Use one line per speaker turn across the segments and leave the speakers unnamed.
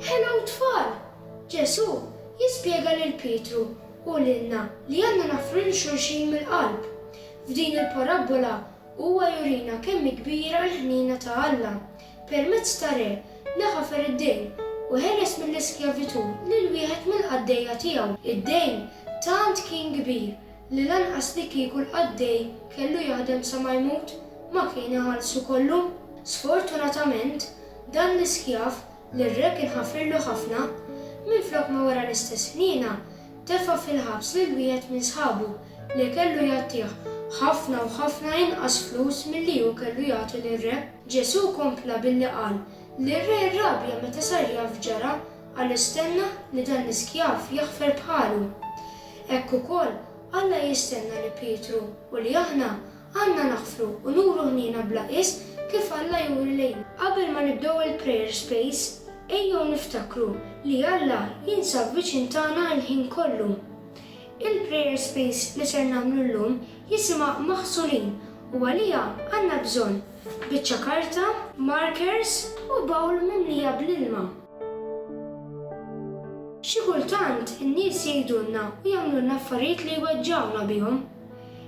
Hello tfal! Ġesù jispjega lil Pietru u lilna li għandna naħfru lil xulxin mill-qalb. F'din il-parabbola huwa jurina kemm hi kbira l-ħniena ta' Alla permezz ta' re li ħafer id-dejn u ħeles mill-iskjavitù lil wieħed mill-qaddejja tiegħu. Id-dejn tant kien kbir li lanqas li kieku l-qaddej kellu jaħdem sa ma jmut, ma kien iħallsu kollu. Sfortunatament, dan l-iskjav, li r-re kien ħafirlu ħafna, minflok ma wera l-istess ħniena, tefa' fil-ħabs lil wieħed minn sħabu li kellu jagħtih ħafna u ħafna inqas flus milli hu kellu jagħti lir-re. Ġesù kompla billi qal li r-re rrabja meta sar jaf x'ġara għaliex stenna li dan l-iskjav jaħfer bħalu. Hekk ukoll, Alla jistenna li Pietru u li aħna għandna naħfru u nuru ħniena bla qies kif Alla juri lejna. Qabel ma nibdew il-Prayer Space, ejjew niftakru li Alla jinsab viċin tagħna l-ħin kollu. Il-Prayer Space li ser nagħmlu llum jisimha Maħsulin u għaliha għandna bżonn biċċa karta, markers u bowl mimlija bl-ilma. Xi kultant in-nies jgħidulna u jagħmlulna affarijiet li jweġġgħuna bihom.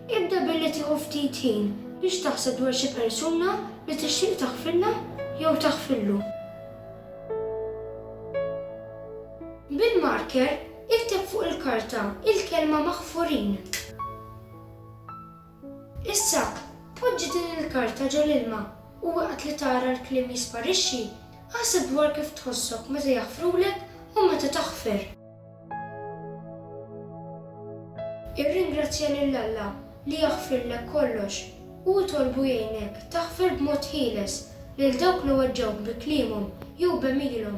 Ibda billi tieħu ftit ħin biex taħseb dwar xi persuna li tixtieq taħfirlha jew taħfirlu. Bil-marker ikteb fuq il-karta il-kelma maħfurin. Issa, poġġi din il-karta ġol-ilma u waqt li tara l-kliem jisparixxi, aħseb dwar kif tħossok meta jaħfrulek u meta taħfer. Irringrazzja lil Alla li jaħfirlek kollox u itolbu jgħinek taħfer b'mod ħieles lil dawk li weġġgħuk bi kliemhom jew b'għemilhom.